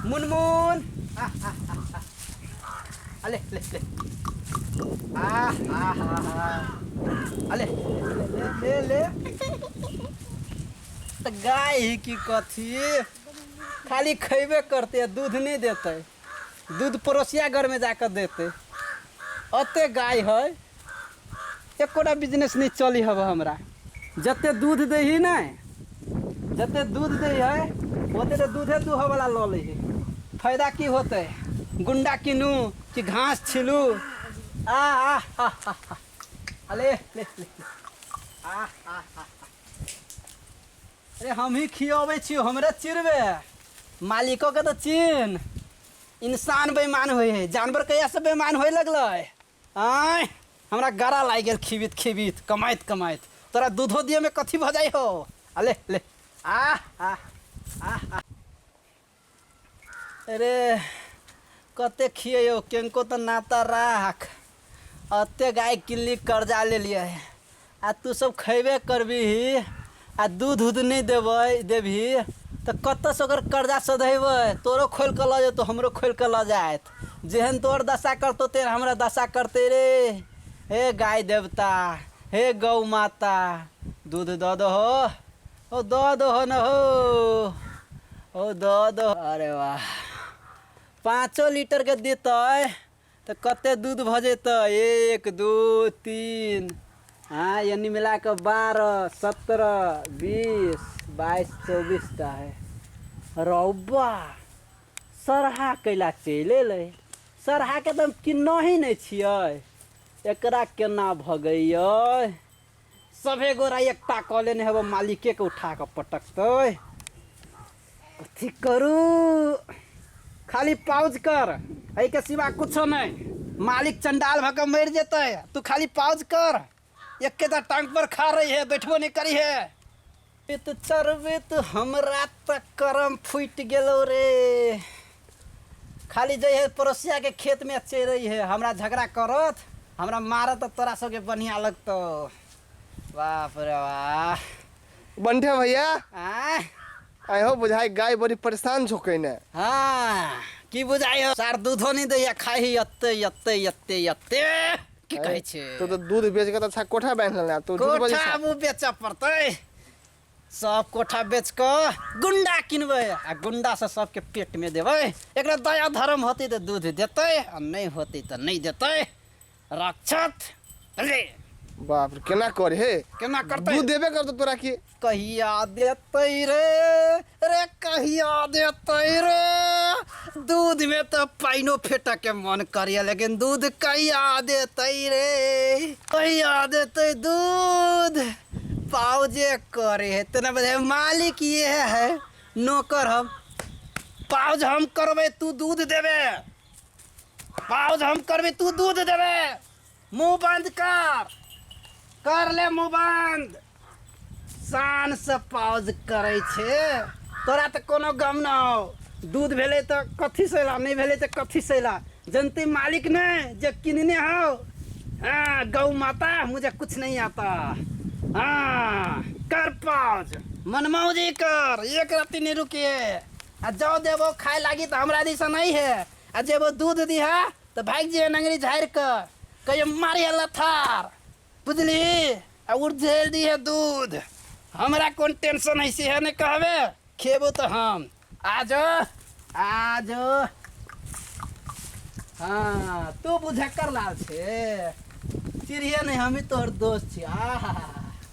मुनमुन अले ले ले आ हा हा हा अले ले ले ले तऽ गाय ही की कथी खाली खैबे करते दूध नहीं देते दूध पड़ोसिया घर में जाकर देते अते गाय है एकोटा बिजनेस नहीं चली हब हमरा जते दूध दे ही ना जते दूध दे है ओते तो दूधे दूह वाला लऽ ले है फायदा की होते गुंडा किनू कि घास छिलू आ आ हा हा हा अले ले ले आ आ आ अरे हमही खियाबै छियौ हमरे चिरबे मालिको के तऽ चिन्ह इंसान बेईमान होइ है जानवर कहिया से बेईमान होय लगलै आय हमरा गरा लागि गेल खिबित खिबित कमाइत कमाइत तोरा दूधो दिए में कथी भऽ जाइ हो आ ले ले आ आ आ आ रे कते खियैयो केनको तऽ ना तऽ राख अते गाय किनली कर्जा लेलियै आ तू सब खैबे करबिही आ दूध उध नहि देबै देबही तऽ कतऽसँ ओकर कर्जा सधेबै तोरो खोलि कऽ लऽ जेतौ हमरो खोलि कऽ लऽ जायत जेहन तोहर दशा करतौ तेहन हमरा दशा करतै रे हे गाय देवता हे गौ माता दूध दऽ दहो हो दऽ दहो न हो हो दऽ दहो अरे वाह पाँचो लीटर के देतै तऽ कते दूध भऽ जेतै एक दू तीन हाँ यानी मिला के बारह सत्रह बीस बाईस चौबीस टा है रौबा सरहा कैला चलि अयलै सरहाके तऽ हम किन्नही नहि छियै एकरा केना भगैयै सभे गोरा एकटा कऽ लेने हेबो मालिके के उठा कऽ पटकतै कथी करू खाली पाउज कर एहिके सिवा कुछो नहि मालिक चंडाल भऽ कऽ मरि जेतै तू खाली पाउज कर एकेटा टांग पर खा रही है बैठबो नहि करी है वेत चरवेत हमरा त करम फूटि गेलौ रे खाली जइहे पड़ोसिया के खेत में चेरई है हमरा झगड़ा करत हमरा मारत त तोरा सबके बढ़िया लगतौ बाप रे वाह बंठे भैया आय आय हो बुझाई गाय बड़ी परेशान छो कइने हाँ की बुझाई हो सार दूधो नहीं दैया खाही अत्ते अत्ते अत्ते अत्ते की कहै छै तू तऽ दूध बेच कऽ तऽ अच्छा कोठा बान्हि लेना तू झूठ बजै कोठा छह। हमहूँ बेचऽ पड़तै सब कोठा बेच कऽ गुंडा किनबै आ गुंडा से सबके पेट में देबै एकरा दया धर्म होतै तऽ दूध देतै आ नहि होतै तऽ नहि देतै राक्षस अरे बाप रे केना करे हे केना करतै दूध देबे करतौ तोरा की कहिया देतै रे रे कहिया देतै रे दूध में तो पाइनो फेटा के मन करिया लेकिन दूध कहिया देतै रे कहिया देतै दूध पाव जे करे है तेना बजे मालिक ये है नौकर हम पाउज हम करबे तू दूध देबे पाउज हम करबे तू दूध देबे मुंह बंद कर कर ले मुंह बंद शान से पाउज करे छे तोरा तो कोनो गम न हो दूध भेले तो कथी से ला नहीं भेले तो कथी से ला जनते मालिक ने जे किनने हो हाँ गौ माता मुझे कुछ नहीं आता हाँ कर पाउज मनमाऊ जी कर एक राति नहीं रुकिए आ जाओ देवो खाए लागी तो हमरा दिशा नहीं है आ जेबो दूध दिहा तऽ भागि जे नंगरी झाड़ि कऽ कहियो मारी है लथार बुझली आ उर्झेल दी है दूध हमरा कोन टेंशन है सेहे नहि कहबे खेबो तऽ हम आज आज हाँ तू बुझक्कर लाल छे चिड़िया नहीं हम ही तोहर दोस्त छी आहा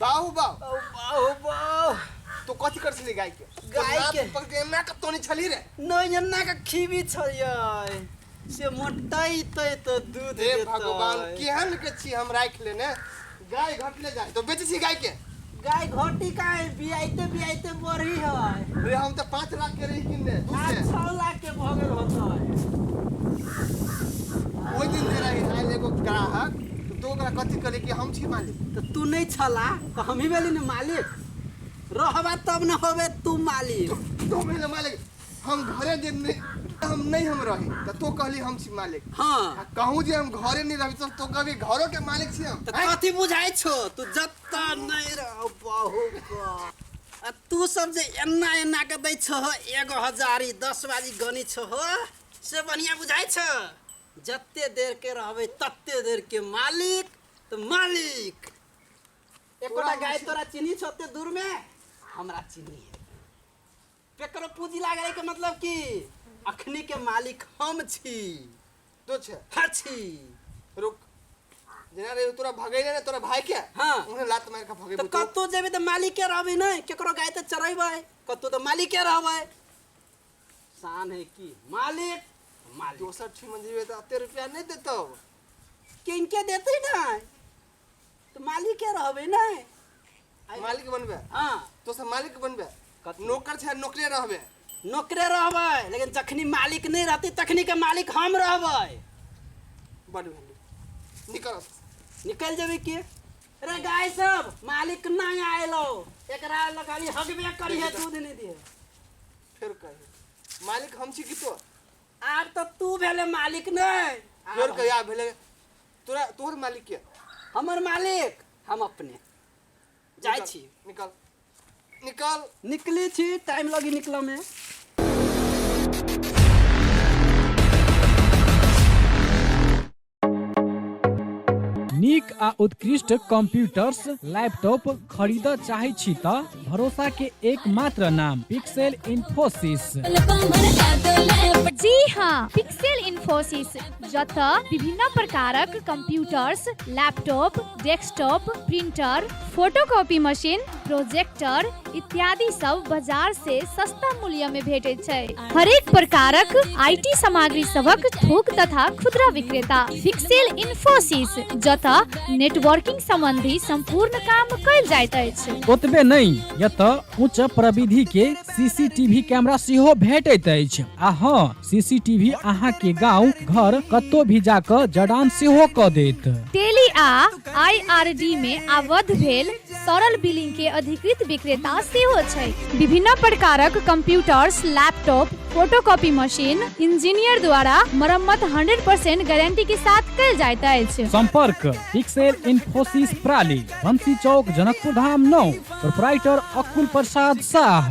बाहु बाहु बाहु बाहु बाहु तू कथी कर छली गाय के गाय के पर के ना के तोनी छली रे नहीं अन्ना के खीबी छलिए से मोटाई ते तो दूध हे भगवान केहन के छी हम राख लेने गाय घटले जाए तो बेचे छी गाय के गाय घटी का है बियाइते बियाइते बढ़ी है अरे हम तो पाँच लाख के रही किनने दूध आज के छह लाख के भगल होता है ओहि दिन से रही आयल एगो ग्राहक तो तू ओकरा कथी कहले कि हम छी मालिक तो तू नहीं छला तो हम ही भेली ना मालिक रहबा तब न होबे तू मालिक तू भेले मालिक हम घरे जे नहीं हम नहीं हम रही तो तू कहली हम छी मालिक हाँ आ कहूँ जे हम घरे नहीं रही तो तू कभी घरों के मालिक छी हम तो आँय? कथी बुझाई छो तू जत्ता नहीं रह बहु का। आ तू सब जे एना एना के दै छो एगो हजारी दस बाजी गनी छो से बढ़िया बुझाई छो जत्ते देर के रहबे तत्ते देर के मालिक तो मालिक एकोटा गाय तोरा चिन्ही छ ओते दूर में हमरा चिन्ही है केकरो पूंजी लागले के मतलब कि अखनी के मालिक हम छी तो छे हर छी रुक जेना रे तोरा भगैले ने तोरा भाई के हाँ। उन्हें लात मार के भगे तो बुतो कत्तो जेबे तो मालिके रहबे नहीं केकरो गाय तो चरेबे कत्तो तो मालिके रहबे शान है की मालिक मालिक दोसर छी मंदिर तो अते रुपया नहीं देतो किनके देते ना तो मालिक के रहबे ना मालिक बनबे हाँ तो सब मालिक बनबे कथी? नौकर छे नौकरे रहबे नौकरे रहबै लेकिन जखनी मालिक नहीं रहते तखनी के मालिक हम रहबै बड़ भेली निकल निकल जेबै की अरे गाय सब मालिक ना आयलो एकरा लो खाली हगबे करी है दूध नहीं दिए फिर कहे मालिक हम छी कि तो आब तो तू भेले मालिक नहीं आब फिर कहे आ भेले तोरा तोहर मालिक के हमर मालिक हम अपने जाय निकल, छी निकल निकल निकली छी टाइम लगी निकल में नीक आ उत्कृष्ट कंप्यूटर्स लैपटॉप खरीद चाहे छी त भरोसा के एकमात्र नाम पिक्सेल इन्फोसिस जी हाँ पिक्सेल इन्फोसिस जत विभिन्न प्रकारक computers laptop desktop printer photocopy machine projector इत्यादि सब बाजार से सस्ता मूल्य में भेटे छै हरेक प्रकारक आईटी सामग्री सबक थोक तथा खुदरा विक्रेता फिक्सेल इन्फोसिस जतऽ नेटवर्किंग संबंधी संपूर्ण काम कयल जाइत अछि ओतबे नहि यतऽ उच्च प्रविधि के सीसीटीवी कैमरा सेहो भेटैत अछि आ हँ सीसीटीवी अहाँ के गांव घर कतौ भी जाकऽ जडान सेहो कऽ देत टेली आ आईआरडी में आबद्ध भेल तरल बिलिंग के अधिकृत विक्रेता सेहो छै विभिन्न प्रकारक computers laptop photocopy machine engineer द्वारा मरम्मत 100% गारंटी के साथ कल जाइत अछि संपर्क पिक्सेल इन्फोसिस प्राली बंसी चौक जनकपुर धाम नौ प्रोपराइटर अकुल प्रसाद शाह